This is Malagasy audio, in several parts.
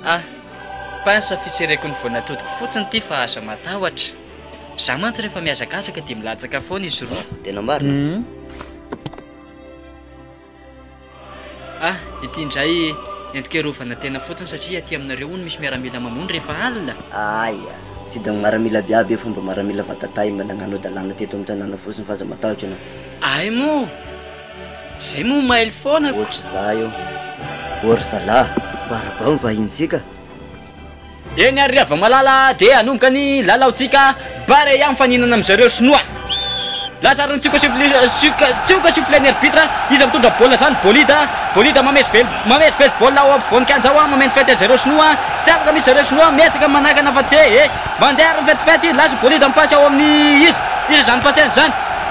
Ah, pince fisereko ny voan'atodiko fotsiny ity fa aza matahotra. Za mantsy rehefa mihazakazaka dia milatsaka foana izy roa. Tena marina. Mhm. Ah, ity indray entiko hiarovana tena fotsiny satria aty aminareo hono misy miaramila mamono rehefa alina. Aia, sidina maramila aby aby io fa mba maramila vata-tahy mba nanganao dalàna teto amin'ny tanàna fotsiny fa aza matahotra ianao. Ay moa! Zay moa mailo foana ko. Ohatry za io. O ry zalah, barabao ny vahintsika. Eny ary ry havamalala dia hanomboka ny lalaontsika barea mifaninana amin'izareo sinoa. Lazar no tsioka sifflet tsioka sifflet-n'ny arbitre. Iza mitondra baolina zany? Bolida, Bolida mamezivezy mamezivezy baolina ao ampovoan'ny kianja ao, mameno fety an'izareo sinoa. Tsy afaka mihitsy zareo sinoa, miezaka manakana fa tsy he he. Mandeha ary ny fetifety, lasa Bolida mipasy ao amin'ny iza? Iza zany passer zany?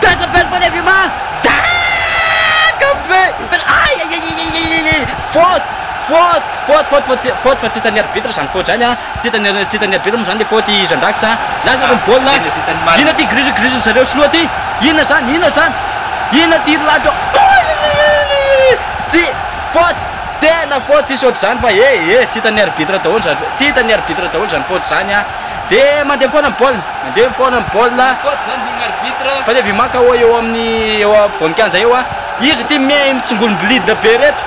Dandy belle vole vue ma da kanto be ny belle aiaiaiaiaiaiaiaiai faute faute faute faute faute tsy faute fa tsy hitan'ny arbitre zany faute zany a tsy hitan'ny tsy hitan'ny arbitre moa zany le faute i Jeandax a lasa aloha ny baolina inona ty grus grus-n'ny zareo sinoa ty inona zany inona zany inona ty rilatra aiaiaiaiaiaiai tsy faute tena faute tsisy ohatr'izany fa eh eh tsy hitan'ny arbitre daholo zany tsy hitan'ny arbitre daholo zany faute zany a. Dia mandeha foana ny baolina, mandeha foana ny baolina. Faute izany hoy ny arbitre. Faute avy Imaka hoy eo amin'ny eo afovoan-kianja eo. Izy ity mitsongolom-bolidina be ireto.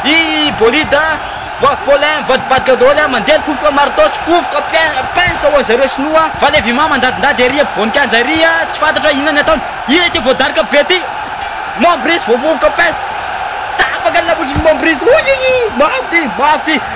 I Bolida, voavy Paulin, mivadibadika daholo, mandeha ny fofoka martos, fofoka pince ho an'zareo sinoa. Faly avy Ima mandadindady ery ampovoan-kianja ery, tsy fantatra inona ny ataony. Inona ity voadaroka be ity? Mombris voavovoka pince. Tapaka ny lamosiny Mombris. Oiiy, mafy ity, mafy ity.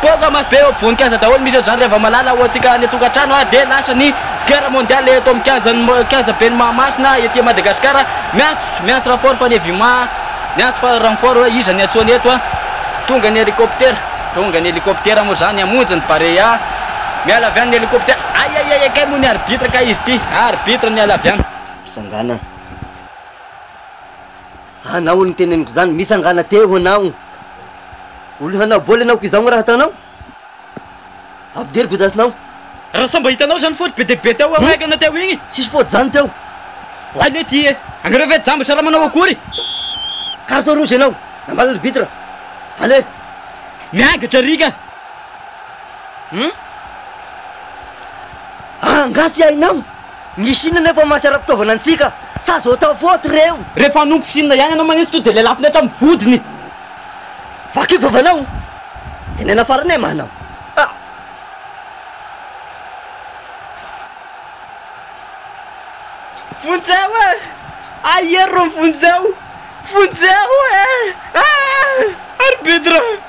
Poaka mafy be eo ampovoan-kianja daholo misy an'izany rehefa malala ho antsika any an-tokantrano ary dia lasa ny guerre mondiale eto amin'ny kianjan'ny kianja ben'ny Mahamasina ety Madagasikara. Miantso, miantso renfort fa ny Evima miantso fa renfort hoe iza ny antsoina eto an. Tonga ny helicoptera, tonga ny helicoptera moa izany hamonjy ny Barea. Miala avy any ny helicoptera. Aiaiaiai kay moa ny arbitre kay izy ity, arbitre miala avy any. Mpisangana. Anao no teneniko izany, mitsangana teo anao. Olona hanao baolina aoka izao ny raha ataonao? Ampidiry godasinao. Raha samy mba hitanao izany faute be dia be teo amin'ny Aigle-na teo iny. Tsisy faute izany teo. Oay lé ty e! Anareo ve jamba sa raha manao akory? Carton rouge ianao, nambara arbitre. Allez! Miangatra ry ka! Hum? Angaha tsy hainao? Ny Chine anefa mantsy ara-pitaovana antsika sa zao atao faute reo. Rehefa hanompo Chine ihany anao manetsy to de le lafiny hatramin'ny vodiny. Vakiko vavanao de nena farany e mama a. Vonjeo e! Aiery ry Vonjeo! Vonjeo e! Aah! Ary Bedra!